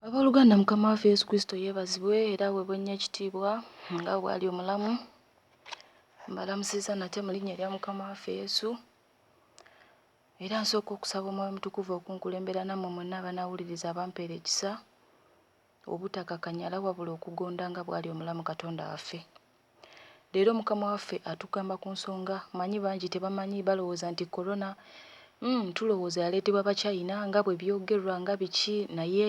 Abooluganda, Mukama waffe Yesu Kristo yeebazibwe era aweebwe nnyo ekitiibwa nga bw'ali omulamu. Mbalamusizza nate mu linnya erya Mukama waffe Yesu. Era nsooka okusaba Omwoyo Omutukuvu okunkulembera nammwe mwenna abanaawuliriza abampeera ekisa obutakakanyala wabula okugonda nga bw'ali omulamu Katonda waffe. Leero mukama waffe atugamba kunsonga manyi bangi tebamanyi balowooza nti corona uhmm tulowooza yaleetebwa bachina nga bwebyogerwa nga biki naye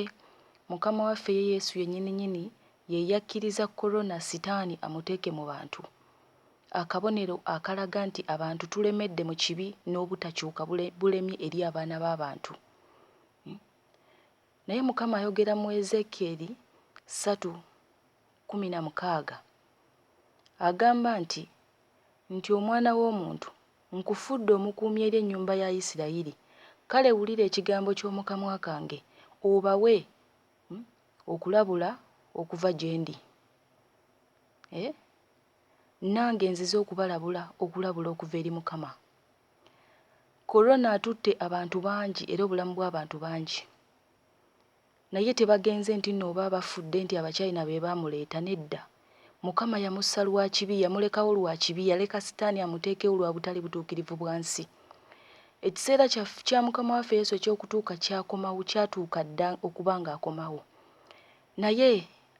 mukama waffe ye yesu yenyini nyini yeyakkiriza corona sitaani amuteeke mu bantu akabonero akalaga nti abantu tulemedde mu kibi n'obutakyuka bulemye eri abaana b'abantu uhmm. Naye Mukama ayogera mu Ezeekyeri ssatu kkumi na mukaaga, agamba nti, nti, Omwana w'omuntu, nkufudde omukuumi eri ennyumba ya Isirayiri, kale wulira ekigambo ky'omu kamwa kange, obawe okulabula okuva gye ndi. Eh, nnange nzize okubalabula okulabula okuva eri Mukama. Corona atutte abantu bangi era obulamu bw'abantu bangi naye tebagenze nti nno oba bafudde nti Abachina be baamuleeta, nedda. Mukama yamussa lwa kibi, yamulekawo lwa kibi, yaleka Sitaani amuteekewo lwa butali butuukirivu bwa nsi. Ekiseera kya, kya Mukama waffe Yesu eky'okutuuka kyakomawo, kyatuuka dda okuba nga akomawo. Naye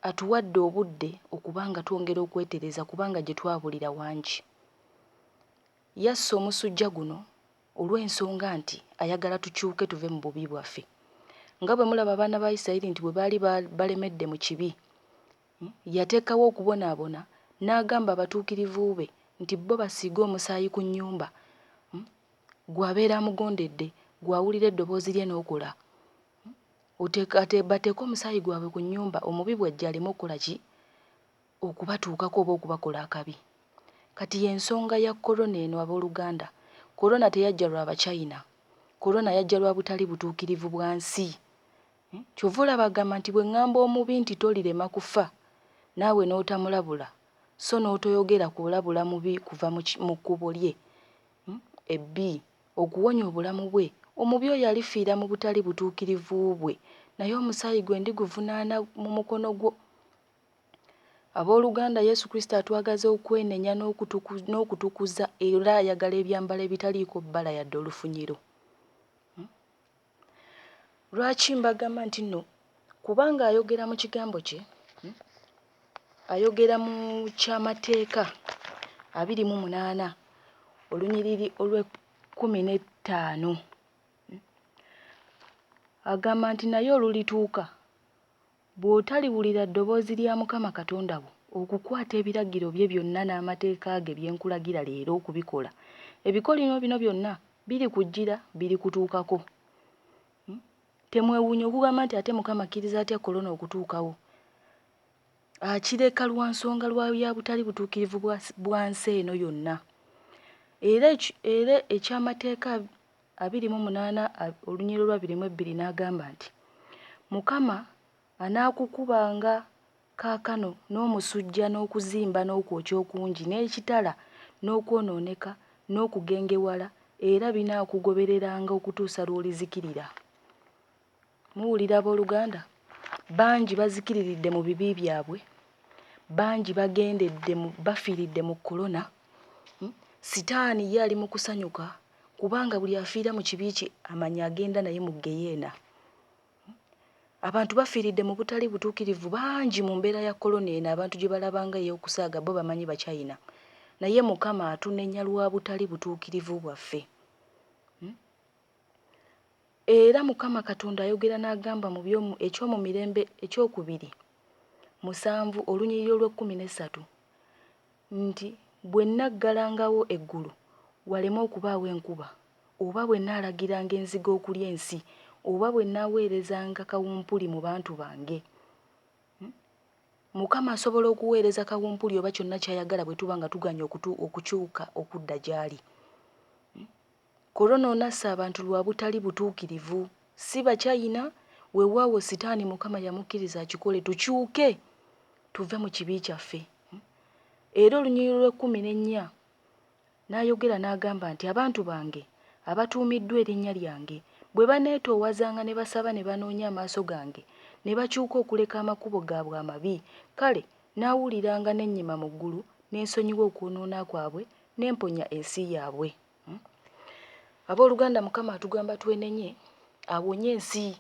Atuwadde obudde okuba nga twongera okwetereeza kubanga gye twabulira wangi. Yassa omusujja guno olw'ensonga nti ayagala tukyuke tuve mu bubi bwaffe. Nga bwe mulaba abaana ba Isirayiri nti bwe baali balemedde mu kibi, yateekawo okubonaabona n'agamba abatuukirivu be nti bo basiige omusaayi ku nnyumba. Ggwe abeera amugondedde, ggwe awulira eddoboozi lye n'okola, bateeke omusaayi gwabwe ku nnyumba omubi bw'ajja aleme okukola ki? okubatuukako oba okubakola akabi. Kati y'ensonga ya Corona eno ab'oluganda. Corona teyajja lwa Bachina. Corona yajja lwa butali butuukirivu bwa nsi. Ky'ova olaba agamba nti, Bwe ŋŋamba omubi nti, Tolirema kufa, naawe n'otamulabula, so n'otoyogera kulabula mubi kuva mu kkubo lye ebbi, okuwonya obulamu bwe, omubi oyo alifiira mu butali butuukirivu bwe, naye omusaayi gwe ndiguvunaana mu mukono gwo. Ab'oluganda, Yesu Kristo atwagaza okwenenya n'okutukuza era ayagala ebyambalo ebitaliiko bbala yadde olufunyiro. Hmm? Lwaki mbagamba nti no? Kubanga ayogera mu kigambo kye, hmm? ayogera mu kyamateeka abiri mu munaana olunyiriri olw'ekkumi n'ettaano hmm? agamba nti naye olulituuka Bw'otaliwulira ddoboozi lya Mukama Katonda wo, okukwata ebiragiro bye byonna n'amateeka ge bye nkulagira leero okubikola, ebikolimo bino byonna birikujjira, birikutuukako. Temwewuunya okugamba nti, Ate Mukama akkiriza atya Corona okutuukawo? Akireka lwa nsonga lwa ya butali butuukirivu bwa nsi eno yonna. Era, era eky'amateeka abiri mu munaana olunyiriri olwa biri mu ebbiri n'agamba nti, Mukama anaakukubanga kaakano n'omusujja n'okuzimba n'okwokya okungi n'ekitala n'okwonooneka n'okugengewala, era binaakugobereranga okutuusa lw'olizikirira. Muwulira, ab'oluganda? Bangi bazikiriridde mu bibi byabwe. Bangi bagendedde mu, bafiiridde mu kolona. Hmm? Sitaani ye ali mu kusanyuka, kubanga buli afiira mu kibi kye amanya agenda naye mu ggeyeena. Hmm? Abantu bafiiridde mu butali butuukirivu bangi mu mbeera ya kolona eno abantu gye balaba nga ey'okusaaga bo bamanyi Bachina. Naye Mukama atunenya lwa butali butuukirivu bwaffe. Hmm? Era Mukama Katonda ayogera n'agamba mu by'omu, eky'omu Mirembe Eky'okubiri, musanvu, olunyiriri olw'ekkumi n'essatu, nti, Bwe nnaggalangawo eggulu waleme okubaawo enkuba, oba bwe nnaalagiranga enzige okulya ensi, oba bwe nnaaweerezanga kawumpuli mu bantu bange. Hmm? Mukama asobola okuweereza kawumpuli oba kyonna ky'ayagala bwe tuba nga tugaanye okutu, okukyuka okudda gy'ali. Corona onasse abantu lwa butali butuukirivu, si ba China, wewaawo sitaani Mukama yamukkiriza akikole tukyuke tuve mu kibi kyaffe. Era olunyiriri lw'ekkumi n'ennya, N'ayogera n'agamba nti, Abantu bange abatuumiddwa erinnya lyange bwe baneetoowazanga ne basaba ne banoonya amaaso gange ne bakyuka okuleka amakubo gaabwe amabi, kale nnaawuliranga ne nnyima mu ggulu ne nsonyiwa okwonoona kwabwe ne mponya ensi yaabwe. hmm? abooluganda mukama atugamba twenenye awonye ensi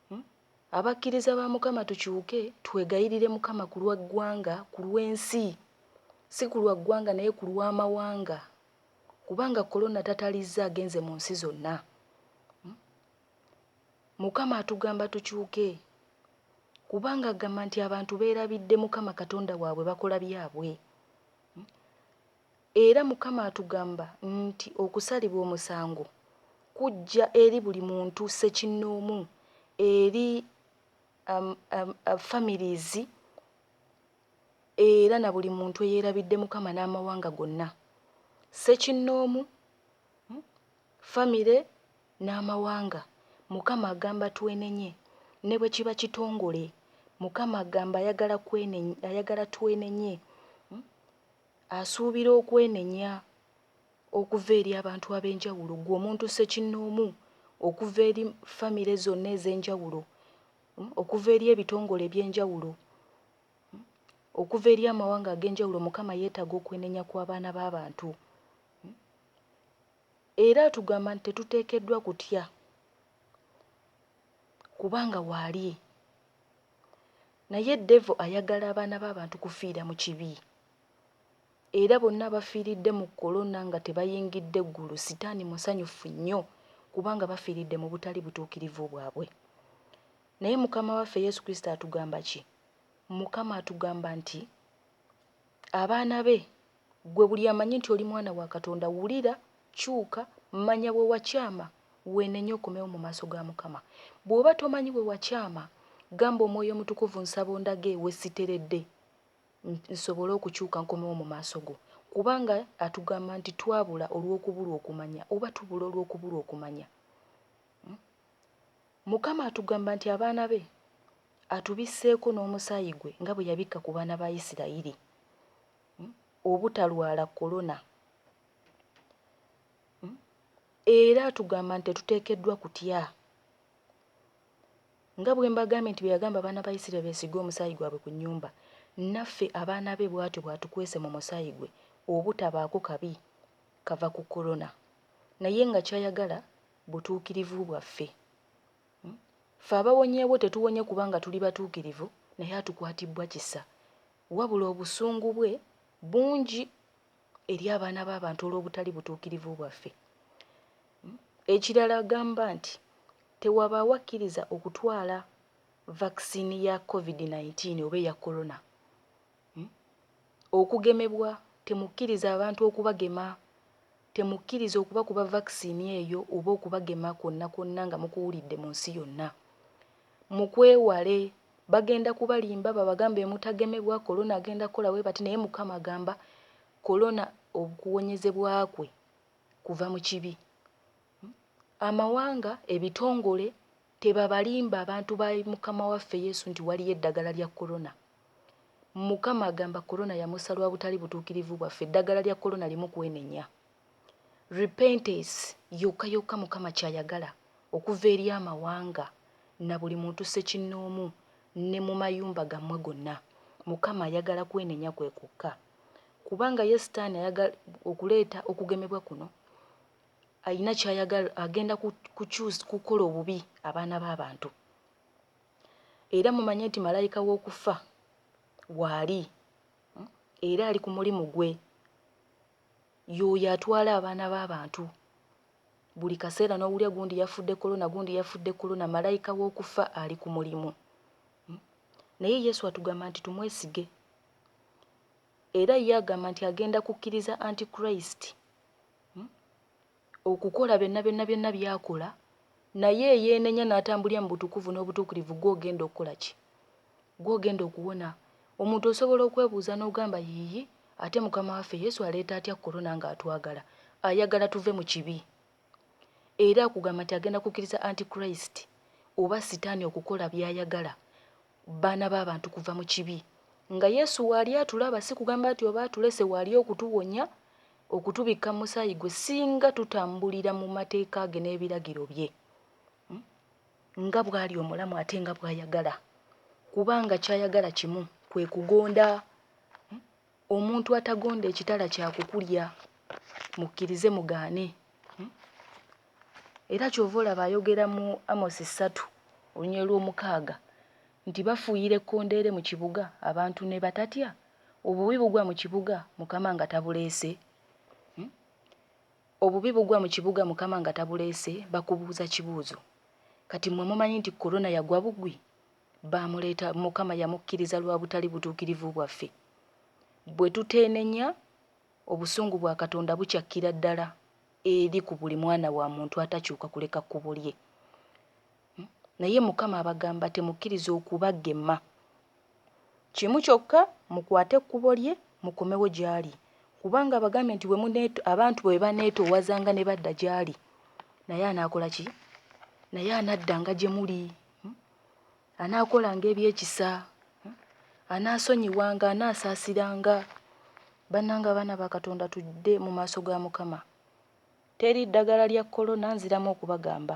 hmm? abakkiriza ba mukama tukyuke twegayirire mukama ku lwa ggwanga ku lw'ensi si ku lwa ggwanga naye ku lw'amawanga kubanga kolona tatalizza agenze mu nsi zonna hmm? mukama atugamba tukyuke kubanga agamba nti abantu beerabidde mukama katonda waabwe bakola byabwe hmm? Era Mukama atugamba nti okusalibwa omusango kujja eri buli muntu ssekinnoomu, eri families, era na buli muntu eyerabidde Mukama n'amawanga gonna. Ssekinnoomu, family n'amawanga. Mukama agamba twenenye ne bwe kiba kitongole. Mukama agamba ayagala ayagala twenenye. Asuubira okwenenya okuva eri abantu ab'enjawulo, ggwe omuntu ssekinnoomu, okuva eri famire zonna ez'enjawulo, okuva eri ebitongole eby'enjawulo, okuva eri amawanga ag'enjawulo. Mukama yeetaaga okwenenya kw'abaana b'abantu. Era atugamba nti tetuteekeddwa kutya kubanga waali. Naye devil ayagala abaana babantu kufiira mu kibi. Era bonna abafiiridde mu Corona nga tebayingidde ggulu sitaani musanyuffu nnyo kubanga bafiiridde mu butali butuukirivu bwabwe. Naye Mukama waffe Yesu Kristo atugamba ki? Mukama atugamba nti abaana be Ggwe buli amanyi nti oli mwana wa Katonda, wulira, kyuka, manya we wakyama, weenenye okomewo mu maaso ga Mukama. Bw'oba tomanyi we wakyama, gamba Omwoyo Omutukuvu, Nsaba ondage we siteredde, nsobole okukyuka nkomewo mu maaso go. Kubanga Atugamba nti twabula olw'okubulwa okumanya, oba tubula olw'okubulwa okumanya. Mukama atugamba nti abaana be Atubisseeko n'omusaayi gwe nga bwe yabikka ku baana ba Isirayiri. obutalwala Corona era atugamba nti tetuteekeddwa kutya nga bwe mbagambye nti bye yagamba abaana ba Isiraeri beesige omusaayi gwabwe ku nnyumba naffe abaana be bw'atyo bw'atukwese mu musaayi gwe obutabaako kabi kava ku Corona naye nga ky'ayagala butuukirivu bwaffe. Ffe abawonyeewo tetuwonye kubanga tuli batuukirivu, naye atukwatibbwa kisa, wabula obusungu bwe bungi eri abaana b'abantu olw'obutali butuukirivu bwaffe. Ekirala agamba nti tewabaawo akkiriza okutwala vaccine ya Covid nineteen oba eya Corona. Okugemebwa, Temukkiriza abantu okubagema. Temukkiriza okubakuba vakisini eyo oba okubagema kwonna kwonna nga mukuwulidde mu nsi yonna. Mukwewale. Bagenda kubalimba babagambe mutagemebwa, Corona agenda kukola bwe bati naye Mukama agamba Corona okuwonyezebwa kwe kuva mu kibi. Amawanga, ebitongole, Tebabalimba abantu ba mukama waffe yesu nti waliyo eddagala lya corona. Mukama agamba corona yamussa lwa butali butuukirivu bwaffe eddagala lya corona limu kwenenya. Repentance yokka yokka mukama kyayagala okuva eri amawanga na buli muntu ssekinnoomu ne mu mayumba gammwe gonna. Mukama ayagala kwenenya kwe kwokka. Kubanga ye sitaani ayagala okuleeta okugemebwa kuno alina ky'ayagala agenda kukola obubi abaana b'abantu era mumanye nti malayika w'okufa waali hmm, era ali ku mulimu gwe y'oyo atwala abaana b'abantu buli kaseera n'owulya gundi yafudde kolona gundi yafudde kolona malayika w'okufa ali ku mulimu hmm. naye yesu atugamba nti tumwesige Era ye agamba nti agenda kukkiriza Anti-Christ okukola byonna byonna byonna by'akola, naye eyeenenya n'atambulira mu butukuvu n'obutuukirivu gw'ogenda okukola ki? Gw'ogenda okuwona. Omuntu osobola okwebuuza n'ogamba, Yiiyi, ate Mukama waffe Yesu aleeta atya Corona nga atwagala? Ayagala tuve mu kibi. Era akugamba nti agenda kukkiriza Anti-Christ, oba Sitaani okukola by'ayagala, Baana ba bantu kuva mu kibi. Nga Yesu waali atulaba, si kugamba nti oba atulese waali okutuwonya, okutubikka mu musaayi gwe, singa tutambulira mu mateeka ge n'ebiragiro bye, nga bw'ali omulamu ate nga bw'ayagala, kubanga ky'ayagala kimu, kwe kugonda. Omuntu atagonda ekitala kya kukulya, mukkirize mugaane. Era kyova olaba ayogera mu Amosi ssatu oluny olw'omukaaga nti bafuuyira ekkondeere mu kibuga abantu ne batatya, obubi bugwa mu kibuga Mukama nga tabuleese, obubi bugwa mu kibuga Mukama nga tabuleese, bakubuuza kibuuzo kati mmwe mumanyi nti Corona yagwa bugwi? Baamuleeta, Mukama yamukkiriza lwa butali butuukirivu bwaffe. Bwe tuteenenya, obusungu bwa Katonda bucakkira ddala eri ku buli mwana wa muntu atakyuka kuleka kkubo lye. Hmm? Naye Mukama abagamba, Temukkiriza okubagema. Kimu kyokka, mukwate ekkubo lye, mukomewo gy'ali. Kubanga abagambye nti bwe abantu bwe baneetoowazanga ne badda gy'ali, naye anaakola ki? Naye anaddanga gye muli. Hmm? anaakolanga ebyekisa anaasonyiwanga anaasaasiranga bannanga abaana ba katonda tudde mu maaso ga mukama teri ddagala lya kolona nziramu okubagamba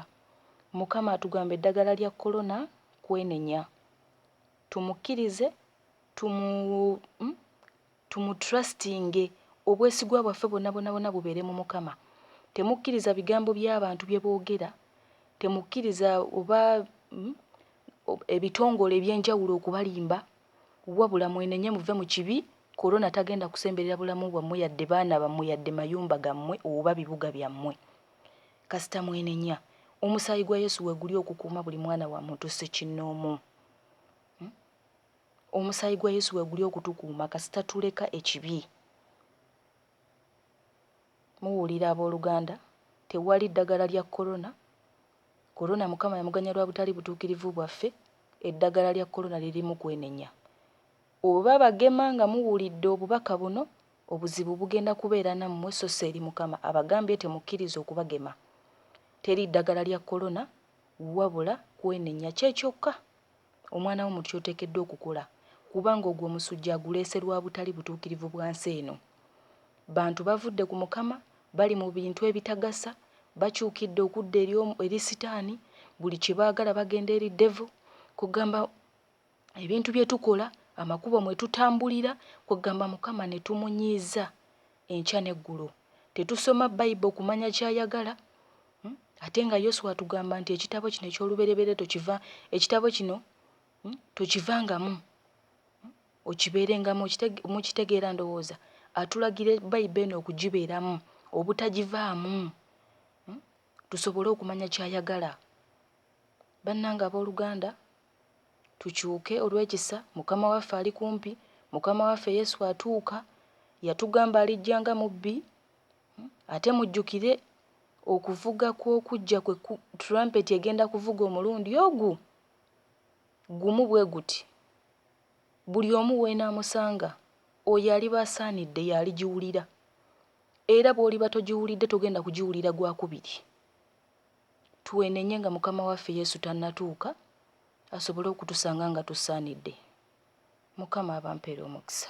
mukama atugamba eddagala lya kolona kwenenya tumukkirize tumu hmm? Tumutrustinge, obwesigwa bwaffe bwonabwonabwona bubeere mu Mukama. Temukkiriza bigambo by'abantu bye boogera, temukkiriza oba ebitongole eby'enjawulo okubalimba, wabula mwenenye muve mu kibi, Corona tagenda kusemberera bulamu bwammwe yadde baana bammwe yadde mayumba gammwe oba bibuga byammwe. Kasita mwenenya, omusaayi gwa Yesu weguli okukuuma buli mwana wa muntu ssekinnoomu. Omusaayi gwa Yesu weguli okutukuuma kasita tuleka ekibi. Muwulira aboluganda, tewali ddagala lya Corona. Corona Mukama yamuganya lwa butali butuukirivu bwaffe, eddagala lya Corona lirimu kwenenya. Oba bagema nga muwulidde obubaka buno, obuzibu bugenda kubeera nammwe so si eri Mukama abagambye temukkiriza okubagema. Teri ddagala lya Corona wabula kwenenya kye kyokka. Omwana wo mu ky'oteekeddwa okukola kubanga ogwo omusujja aguleese lwa butali butuukirivu bwa nsi eno. Bantu bavudde ku Mukama, bali mu bintu ebitagasa, bakyukidde okudda eri eri sitaani, buli kye baagala bagenda eri devil, kwegamba ebintu bye tukola, amakubo mwe tutambulira, kwegamba Mukama ne tumunyiiza. enkya n'eggulo. Tetusoma Bible kumanya ky'ayagala? Ate nga Yoswa atugamba nti ekitabo kino eky'olubereberye tokiva ekitabo kino tokivangamu okibeerengamu mukitegeera ndowooza atulagira Bible eno okugibeeramu obutagivaamu tusobole okumanya ky'ayagala. Bannange abooluganda tukyuke olw'ekisa, Mukama waffe ali kumpi, Mukama waffe Yesu atuuka, yatugamba alijja nga mubbi, ate mujjukire okuvuga kw'okujja kwe ku trumpet egenda kuvuga omulundi ogu gumu bwe guti, buli omu w'enaamusanga, oyo aliba asaanidde y'aligiwulira, era bw'oliba togiwulidde togenda kugiwulira gwa kubiri. Tweenenye nga Mukama waffe Yesu tannatuuka asobole okutusanga nga tusaanidde. Mukama abampeere omukisa.